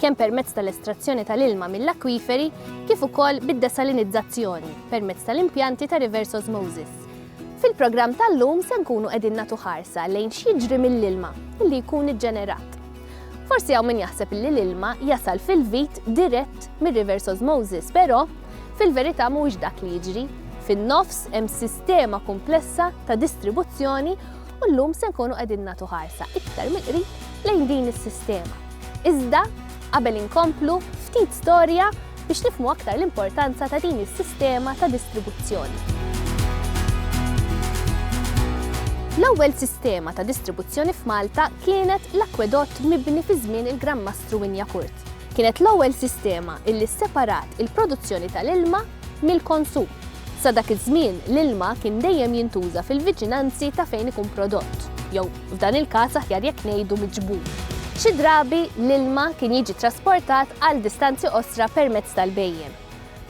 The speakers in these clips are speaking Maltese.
kemm permezz tal-estrazzjoni tal-ilma mill-akwiferi kif ukoll bid-desalinizzazzjoni permezz tal-impjanti ta' reverse osmosis. Fil-programm tal-lum se nkunu qegħdin nagħtu ħarsa lejn x'jiġri mill-ilma li jkun iġġenerat. Forsi hawn min jaħseb li l-ilma jasal fil-vit dirett mir-reverse osmosis, però fil-verità mhuwiex dak li jiġri. Fin-nofs hemm sistema komplessa ta' distribuzzjoni u llum se nkunu qegħdin nagħtu ħarsa iktar mill-qrib lejn din is-sistema. Iżda, qabel inkomplu, ftit storja biex nifhmu aktar l-importanza ta' din is-sistema ta' distribuzzjoni. L-ewwel sistema ta' distribuzzjoni f'Malta kienet l-akwedott mibni fi żmien il-Gran Mastru Winjakurt. Kienet l-ewwel sistema illi sseparat il-produzzjoni tal-ilma mill-konsum. Sa dak iż-żmien l-ilma kien dejjem jintuża fil-viċinanzi ta' fejn ikun prodott, jew f'dan il-każ aħjar jekk ngħidu miġbur. Xi drabi l-ilma kien jiġi trasportat għal distanzi qosra permezz tal-bejjem.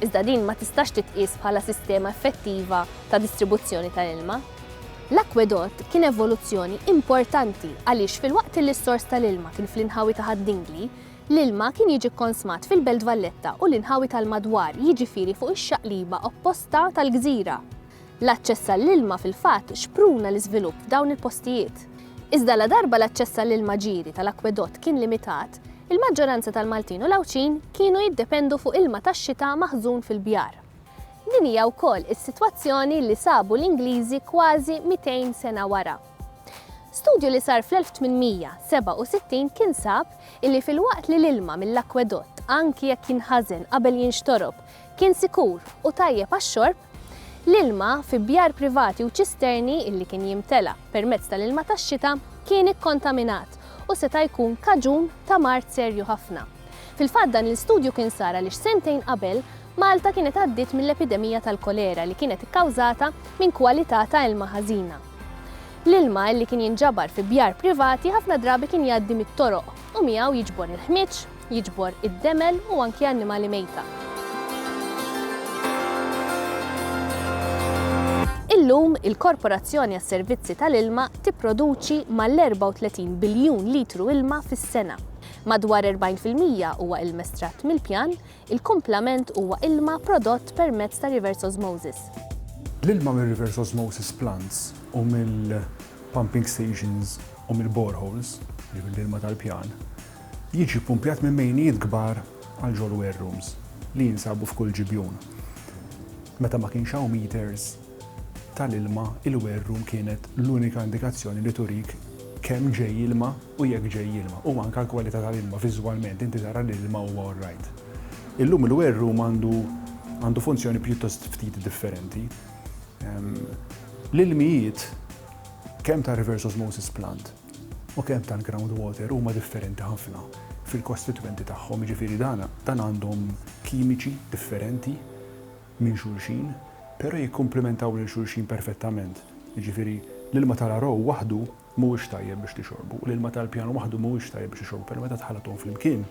Iżda din ma tistax titqies bħala sistema effettiva ta' distribuzzjoni tal-ilma. L-akwedott kien evoluzzjoni importanti għaliex fil-waqt li s-sors tal-ilma kien fl-inħawi ta' Ħaddingli, l-ilma kien jiġi konsmat fil-Belt Valletta u l-inħawi tal-madwar jiġifieri fuq ix-xaqliba opposta tal-gżira. L-aċċess għall-ilma fil-fatt xpruna l-iżvilupp f'dawn il-postijiet. Iżda ladarba l-aċċess għall-ilma ġieri tal-akkwedott kien limitat, il-maġġoranza tal-Maltin u l-Għawdxin kienu jiddependu fuq ilma tax-xita maħżun fil-bjar. Din hija wkoll is-sitwazzjoni li sabu l-Ingliżi kważi 200 sena wara. Studju li sar fl-1867 kien sab illi filwaqt li l-ilma mill-akkwedott anki jekk jinħażen qabel jinxtorob kien sikur u tajjeb għax-xorb, l-ilma fi bjar privati u ċisterni li kien jimtela permezz tal-ilma tax-xita kien ikkontaminat u seta' jkun kaġun ta' mard serju ħafna. Fil-fatt dan l-istudju kien sar għaliex sentejn qabel Malta kienet għaddiet mill-epidemija tal-kolera li kienet ikkawżata minn kwalità ta' ilma ħażina. L-ilma li kien jinġabar fi bjar privati ħafna drabi kien jgħaddi mit-toroq u miegħu jiġbor il-ħmieġ, Jiġbor id-demel u anki annimali mejta. Illum, il-Korporazzjoni għas-Servizzi tal-Ilma tipproduċi mal-34 biljun litru ilma fis-sena. Madwar 40 fil-mija huwa ilm estratt mill-pjan, il-kumplament huwa ilma prodott permezz ta' reverse osmosis. L-ilma mir-reverse osmosis plants u mill-pumping stations u mill-boreholes, jiġifieri l-ilma tal-pjan, jiġi ppumpjat minn mejnijiet kbar għal ġol-ware rooms li jinsabu f'kull ġibjun. Meta ma kienx hawn meters tal-ilma, il-ware room kienet l-unika indikazzjoni li turik kemm ġej ilma u jekk ġej ilma, u anke l-kwalità tal-ilma, viżwalment inti tara li l-ilma huwa all right. Illum il-ware room għandu għandu funzjoni pjuttost ftit differenti. L-ilmijiet kemm tar-reverse osmosis plant, u kemm tal-ground water huma differenti ħafna fil-kostitwenti tagħhom, jiġifieri dan dan għandhom kimiċi differenti minn xulxin, però jikkumplimentaw lil xulxin perfettament. Jiġifieri l-ilma tal-Arow waħdu mhuwiex tajjeb biex tixorbu, u l-ilma tal-Pjan waħdu mhuwiex tajjeb biex tixorbu, però meta tħallthom flimkien,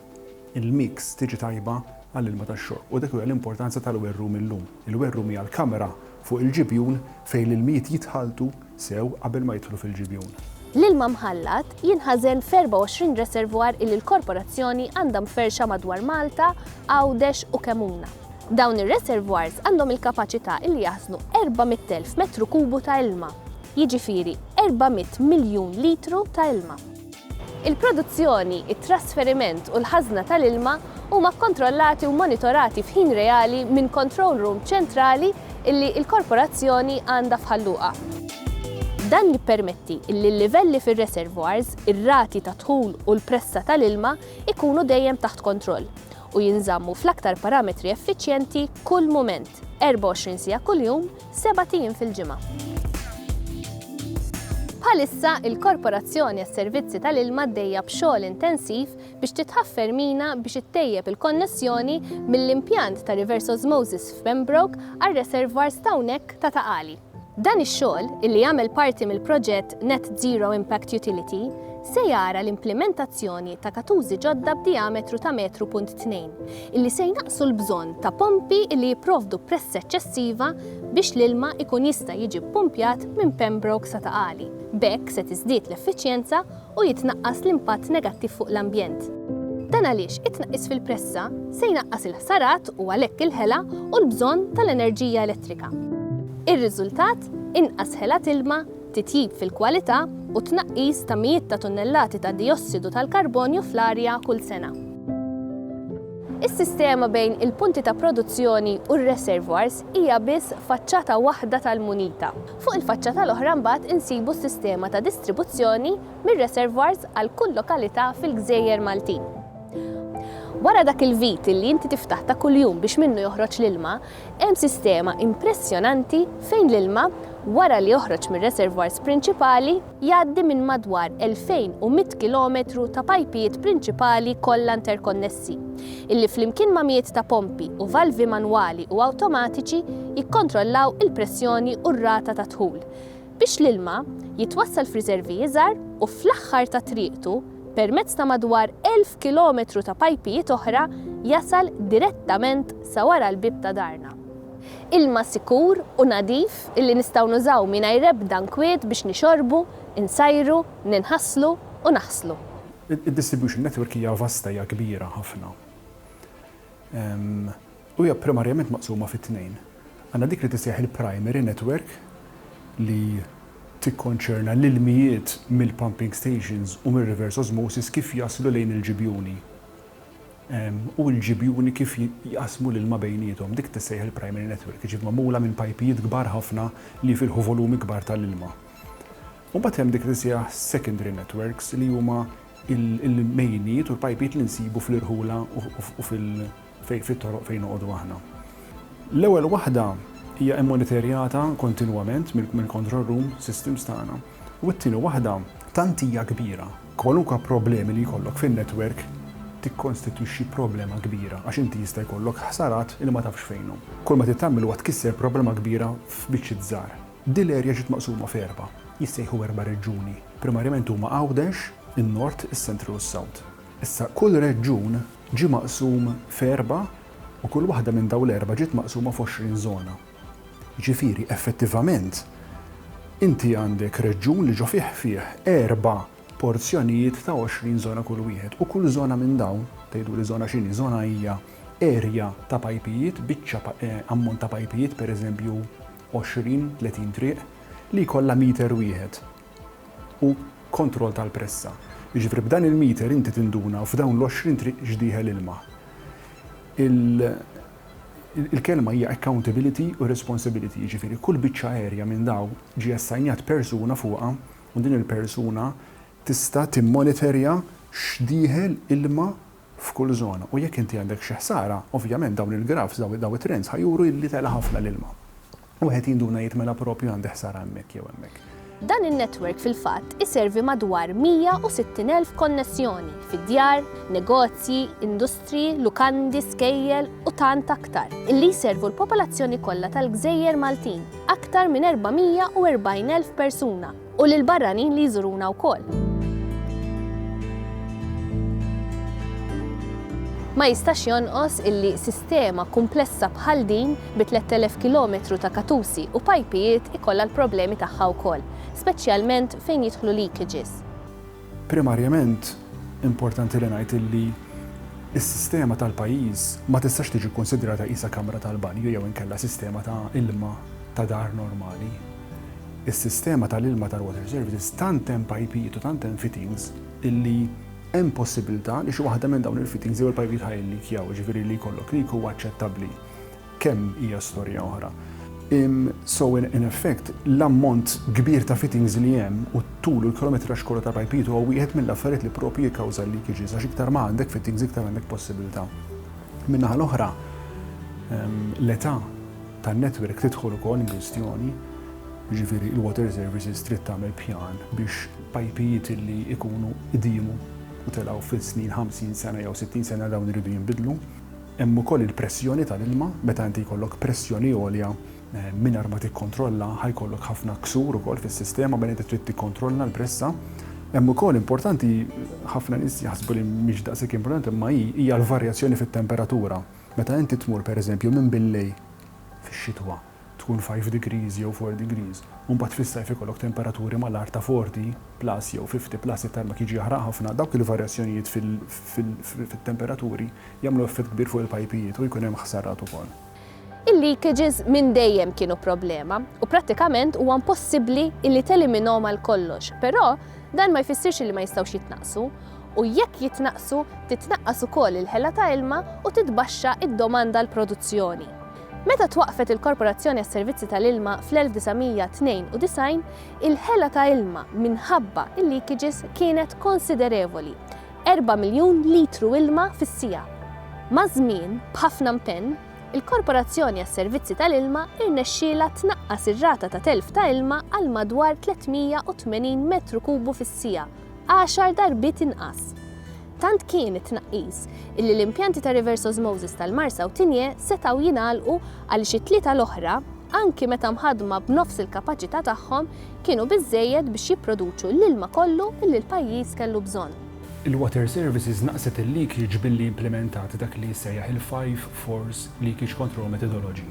il-mix tiġi tajba għall-ilma tax-xorb, u dik hija l-importanza tal-werrum illum. Il-werrum hija l-kamra fuq il-ġibjun fejn l-ilmijiet jitħalltu, sew qabel ma jidħlu fil-ġibjun. L-ilma mħallat jinħażen f'24 reservoir illi l-Korporazzjoni għandha mferrxa madwar Malta, Għawdex u Kemmuna. Dawn ir-reservoirs għandhom il-kapaċità illi jaħżnu 400,000 metru kubu ta' ilma, jiġifieri 400 miljun litru ta' ilma. Il-produzzjoni, it-trasferiment u l-ħażna tal-ilma huma kkontrollati u mmonitorati f'ħin reali minn control room ċentrali li l-Korporazzjoni għandha f'Ħal Luqa. Dan jippermetti li l-livelli fir-reservoirs, ir-rati ta' dħul u l-pressa tal-ilma jkunu dejjem taħt kontroll u jinżammu fl-aktar parametri effiċjenti kull mument, 24 siegħa kuljum, sebat ijiem fil-ġimgħa. Bħalissa, il-Korporazzjoni għas-Servizzi tal-Ilma għaddejja b'xogħol intensiv biex titħaffer mina biex ittejjeb il-konnessjoni mill-impjant ta' reverse osmosis f'Pembroke għar-reservoirs ta' hawnhekk ta' Ta' Qali. Dan ix-xogħol, illi jagħmel parti mill-proġett Net Zero Impact Utility, se jara l-implimentazzjoni ta' katużi ġodda b'dijametru ta' metru punt tnejn, illi se jnaqqsu l-bżonn ta' pompi illi jipprovdu pressa eċċessiva biex l-ilma jkun jista' jiġi ppumpjat minn Pembroke sa Ta' Qali. B'hekk se tiżdied l-effiċjenza u jitnaqqas l-impatt negattiv fuq l-ambjent. Dan għaliex it-tnaqqis fil-pressa se jnaqqas il-ħsarat u għalhekk il-ħela u l-bżonn tal-enerġija elettrika. Ir-riżultat, inqas ħela t'ilma, titjib fil-kwalità u t-tnaqqis ta' mijiet ta' tunnellati ta' dijossidu tal-karbonju fl-arja kull sena. Is-sistema bejn il-punti ta' produzzjoni u r-reservoirs hija biss faċċata waħda tal-munita. Fuq il-faċċata l-oħra mbagħad insibu s-sistema ta' distribuzzjoni mir-reservoirs għal kull lokalità fil-gżejjer Maltin. Wara dak il-vit li inti tiftaħ ta' kuljum biex minnu joħroġ l-ilma, Hemm sistema impressjonanti fejn l-ilma, wara li joħroġ mir-reservoirs prinċipali, jgħaddi minn madwar 2,100 kilometru ta' pajpijiet prinċipali kollha interkonnessi, illi flimkien ma' mijiet ta' pompi u valvi manwali u awtomatiċi jikkontrollaw il-pressjoni u r-rata tad-dħul, biex l-ilma jitwassal f'riservi iżgħar u fl-aħħar ta' triqtu, permezz ta' madwar 1,000 kilometru ta' pajpijiet oħra, jasal direttament sa wara l-bieb ta' darna. Ilma sikur u nadif illi nistgħu nużaw mingħajr ebda nkwiet biex nixorbu, insajru, ninħaslu u naħslu. Id-distribution network hija vasta, hija kbira ħafna. u hija primarjament maqsuma fi tnejn. Għandna dik li tissejjaħ il-primary network li tikkonċerna l-ilmijiet mill-pumping stations u mir-reverse osmosis kif jaslu lejn il-ġibjuni u l-ġibjuni kif jqassmu l-ilma bejniethom. Dik tissejjaħ il-primary network, jiġifieri magħmula minn pajpijiet kbar ħafna li jfilħu volumi kbar tal-ilma. U mbagħad hemm dik li tissejjaħ secondary networks li huma l-mejjinijiet u l-pajpijiet li nsibu fl-irħula u fit-toroq fejn noqogħdu aħna. L-ewwel waħda hija immonitorjata kontinwament mill-control room systems tagħna u t-tieni waħda, tant hija kbira, kwalunkwe problemi li jkollok fin-network tikkonstitwixxi problema kbira għax inti jista' jkollok ħsarat li ma tafx fejnhom. Kull ma trid tagħmel huwa tkisser problema kbira f'biċċiet żgħar. Din l-erja ġiet maqsuma f'erba', jissejħu erba' reġjuni. Primarjament huma Għawdex, in-Nord, is-Central u s-South. Issa, kull reġjun ġie maqsum f'erba' u kull waħda minn dawn l-erba' ġiet maqsuma f'għoxrin żona. Jiġifieri, effettivament, inti għandek reġjun li ġo fih fih erba' porzjonijiet ta' għoxrin żona kull wieħed u kull żona minn dawn, tgħiduli żona x'inhi, żona hija erja ta' pajpijiet, biċċa ammont ta' pajpijiet, pereżempju għoxrin, tletin triq, li jkollha meter wieħed. u kontroll tal-pressa. Jiġifieri b'dan il-meter inti tinduna u f'dawn l-għoxrin triq x'dieħel ilma. Il-kelma hija accountability u responsibility, jiġifieri kull biċċa aerja minn dawn ġie assajnjat persuna fuqha u din il-persuna tista' timmonitorja x'dieħel ilma f'kull żona u jekk inti għandek xi ħsara, ovvjament dawn il-grafs, dawn it-trends ħa juru li tela' ħafna l-ilma. Wieħed jinduna jgħid mela proprju għandi ħsara hemmhekk jew hemmhekk. Dan in-netwerk fil-fatt iservi madwar 160,000 konnessjoni fi djar, negozji, industriji, lukandi, skejjel u tant aktar, illi jservu l-popolazzjoni kollha tal-gżejjer Maltin, aktar minn 440,000 persuna. U lill-barranin li jżuruna wkoll. Ma jistax jonqos illi sistema kumplessa bħal din bi 3,000 kilometru ta' katusi u pajpijiet ikollha l-problemi tagħha wkoll, speċjalment fejn jidħlu leakages. Primarjament, importanti li ngħid illi s-sistema tal-pajjiż ma tistax tiġi kkunsidrata qisha kamra tal-banju jew inkella sistema ta' ilma ta' dar normali. Is-sistema tal-ilma tal-Water Services tant hemm pajpijiet u tant hemm fittings illi hemm possibbiltà li xi waħda minn dawn il-fittings jew il-pajpijiet ħa jilleakjaw, jiġifieri li jkollok leak huwa aċċettabbli. Kemm hija storja oħra. So in effect, l-ammont kbir ta' fittings li hemm u t-tul u l-kilometraġġ kollu ta' pajpijiet huwa wieħed mill-affarijiet li proprju jikkawża l-leakages għax iktar ma għandek fittings iktar għandek possibbiltà. Min-naħa l-oħra, l-età. tan-netwerk tidħol ukoll inkwistjoni, jiġifieri il-Water Services trid tagħmel pjan biex pajpijiet li jkunu qdimu u telgħu fis-snin 50 sena jew 60 sena dawn iridu jinbidlu. Hemm ukoll il-pressjoni tal-ilma, meta inti jkollok pressjoni għolja mingħajr ma tikkontrolla ħa jkollok ħafna ksur ukoll fis-sistema mela inti trid tikkontrolla l-pressa. Hemm ukoll importanti ħafna nies jaħsbu li mhix daqshekk importanti imma hi hija l-varjazzjoni fit-temperatura. Meta inti tmur pereżempju minn billej fix-xitwa tkun five degrees jew four degrees u mbagħad fis-sajf ikollok temperaturi mal-agħar ta' forty plus jew fifty plus it-tarmak jiġi jaħraq ħafna, dawk il-varjazzjonijiet fit-temperaturi jagħmlu effett kbir fuq il-pajpijiet u jkun hemm ħsarat ukoll. Il-leakages minn dejjem kienu problema u prattikament huwa impossibbli illi teliminhom għal kollox, però dan ma jfissirx illi ma jistgħux jitnaqqsu. u jekk jitnaqqsu titnaqqas ukoll il-ħela ta' ilma u titbaxxa d-domanda għal produzzjoni. Meta twaqqfet il-Korporazzjoni għas-Servizzi tal-Ilma fl-1992, il-ħela ta' ilma minħabba l-leakages kienet konsiderevoli, erba' miljun litru ilma fis-siegħa. Maż-żmien, b'ħafna mpenn, il-Korporazzjoni għas-Servizzi tal-Ilma rnexxielha tnaqqas ir-rata ta' telf ta' ilma għal madwar 380 metru kubu fis-siegħa, għaxar darbiet inqas. Tant kien it-tnaqqis illi l-impjanti ta' reverse osmosis tal-Marsa u Tinje setgħu jingħalqu għaliex it-tlieta l-oħra, anki meta mħaddma b'nofs il-kapaċità tagħhom, kienu biżżejjed biex jipproduċu l-ilma kollu illi l-pajjiż kellu bżonn. Il-Water Services naqqset il-leakage billi implimentat dak li jissejjaħ il-Five Fours Leakage Control Methodology.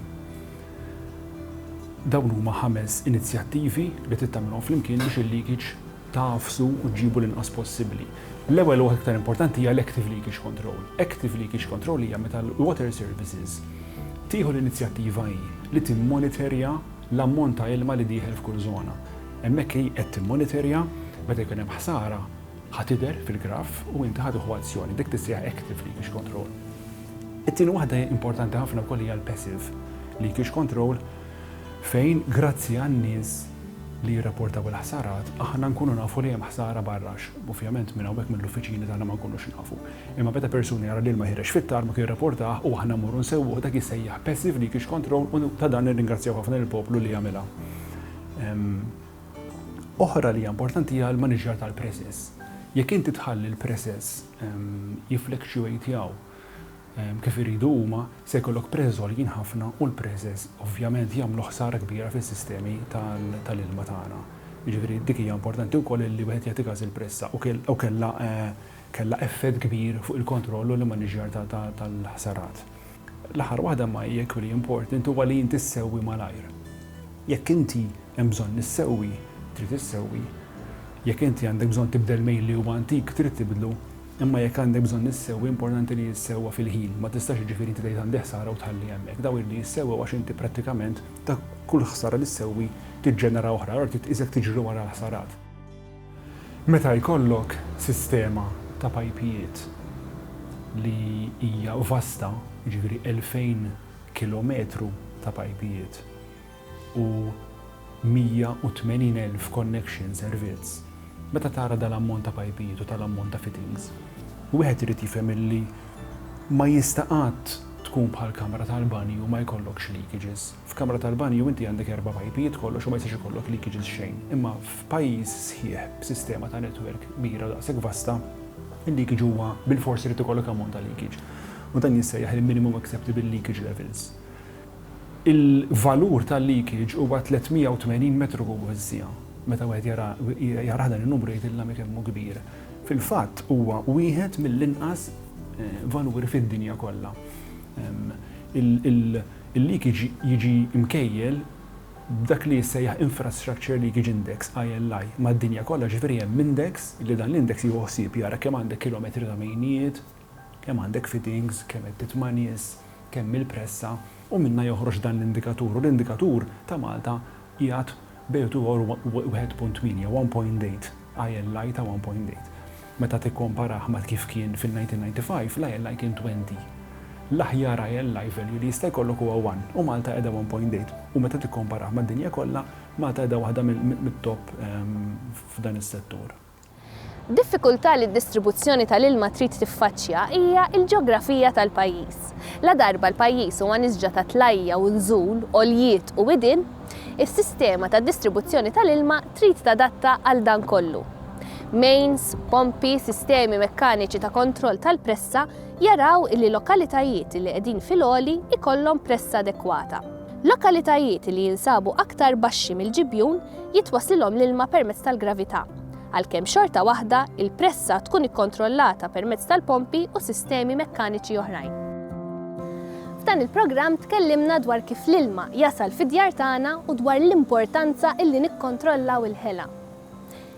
Dawn huma ħames inizjattivi li trid tagħmilhom flimkien biex il-leakage tagħfsu u ġġibu l-inqas possibbli. L-ewwel u waħda iktar importanti hija l-active leakage control. Active leakage control hija meta l-water services tieħu l-inizjattiva hi li timmoniterja l-ammont ta' ilma li dieħel f'kull żona. Hemmhekk hi qed timmoniterja, meta jkun hemm ħsara ħa tidher fil-graff u inti ħa tieħu azzjoni. Dik tissejjaħ active leakage control. It-tieni waħda importanti ħafna wkoll hija l-passive leakage control, fejn grazzi għan-nies li jirrapportaw il-ħsarat aħna nkunu nafu li hemm ħsara barra għax ovvjament minn hawnhekk mill-uffiċini tagħna ma nkunux nafu. Imma meta persuna jara l-ilma jħereġ fit-tarmak jirrapportah u aħna mmorru nsewwuh dak jissejjaħ passive leakage control u ta' dan nirringrazzjaw ħafna lill-poplu li għamilha. Oħra li hija importanti hija l-maniġjar tal-presses. Jekk inti tħalli l-presses jifflexuateaw, kif iridu huma, se jkollok preżż għoljin ħafna u l-preżż ovvjament jagħmlu ħsara kbira fis-sistemi tal-ilma tagħna. Jiġifieri dik hija importanti wkoll li wieħed jagħti każ il-pressa u u kellha kellha effett kbir fuq il-kontroll u l-immaniġġjar tal-ħsarat. L-aħħar waħda imma hija equally important huwa li inti ssewwi malajr. Jekk inti hemm bżonn issewwi, trid issewwi. Jekk inti għandek bżonn tibdel mejl li huwa antik, trid tibdlu. Imma jekk għandek bżonn issewwi importanti li jissewwa fil-ħin, ma tistax jiġifieri inti tgħid għandi ħsara u tħalli hemmhekk. Dawn iridu jissewwew għax inti prattikament ta' kull ħsara li ssewwi tiġġenera oħra, allura trid tqis jekk tiġri wara l-ħsarat. Meta jkollok sistema ta' pajpijiet li hija vasta, jiġifieri elfejn kilometru ta' pajpijiet, u 180,000 connection servizz, meta tara dal-ammont ta' pajpijiet u tal-ammont ta' fittings, wieħed irid jifhem illi ma jista' qatt tkun bħal kamra tal-banju ma jkollokx leakages. F'kamra tal-banju inti għandek erba' pajpijiet kollox u ma jistax ikollok leakages xejn. Imma f'pajjiż sħiħ b'sistema ta' network kbira daqshekk vasta, il-leakage huwa bilfors irid ikollok ammont ta' leakage. U dan jissejjaħ il-minimum acceptable leakage levels. Il-valur tal-leakage huwa 380 metru kubu fis-siegħa. Meta wieħed jara jarah dan in-numru jgħidilna mi kemm hu kbir. Fil-fatt huwa wieħed mill-inqas valuri fid-dinja kollha. Il-leakage jiġi mkejjel b'dak li jissejjaħ Infrastructure Leakage Index, ILI, mad-dinja kollha, jiġifieri hemm index li dan l-index jieħu ħsieb jara kemm għandek kilometri ta' mejnijiet, kemm għandek fittings, kemm qed titma' nies, kemm il-pressa, u minnha joħroġ dan l-indikatur, u l-indikatur ta' Malta qiegħed bejn u tiegħu u 1.8, one point eight, ILI ta' one point eight. Meta tikkomparah ma' kif kien fil-1995, l-ILI kien twenty. L-aħjar ILI value li jista' jkollok huwa one, u Malta qiegħda one point eight, u meta tikkomparah mad-dinja kollha, Malta qiegħda waħda mit-top f'dan is-settur. Diffikultà li d-distribuzzjoni tal-ilma trid tiffaċċja hija l-ġeografija tal-pajjiż. Ladarba l-pajjiż huwa nisġa ta' tlajja u nżul, għoljiet u widien, is-sistema ta' distribuzzjoni tal-ilma trid tadatta għal dan kollu. Mains, pompi, sistemi mekkaniċi ta' kontroll tal-pressa jaraw li lokalitajiet li qegħdin fil-għoli jkollhom pressa adekwata. Lokalitajiet li jinsabu aktar baxxi mill-ġibjun jitwasslilhom l-ilma permezz tal-gravità, għalkemm xorta waħda l-pressa tkun ikkontrollata permezz tal-pompi u sistemi mekkaniċi oħrajn. F'dan il-programm tkellimna dwar kif l-ilma jasal fid-djar tagħna u dwar l-importanza li nikkontrollaw il-ħela.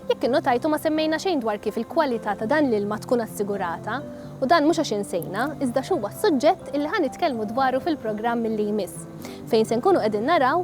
Jekk innotajtu ma semmejna xejn dwar kif il-kwalità ta' dan l-ilma tkun assigurata u dan mhux għax insejna iżda għax huwa s-suġġett li ħa nitkellmu dwaru fil-programm li jmiss fejn se nkunu qegħdin naraw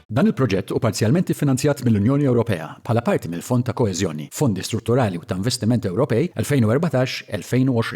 Dan il-proġett hu parzjalment iffinanzjat mill-Unjoni Ewropea bħala parti mill-Fond ta' Koeżjoni, Fondi Strutturali u ta' Investiment Ewropej 2014-2020.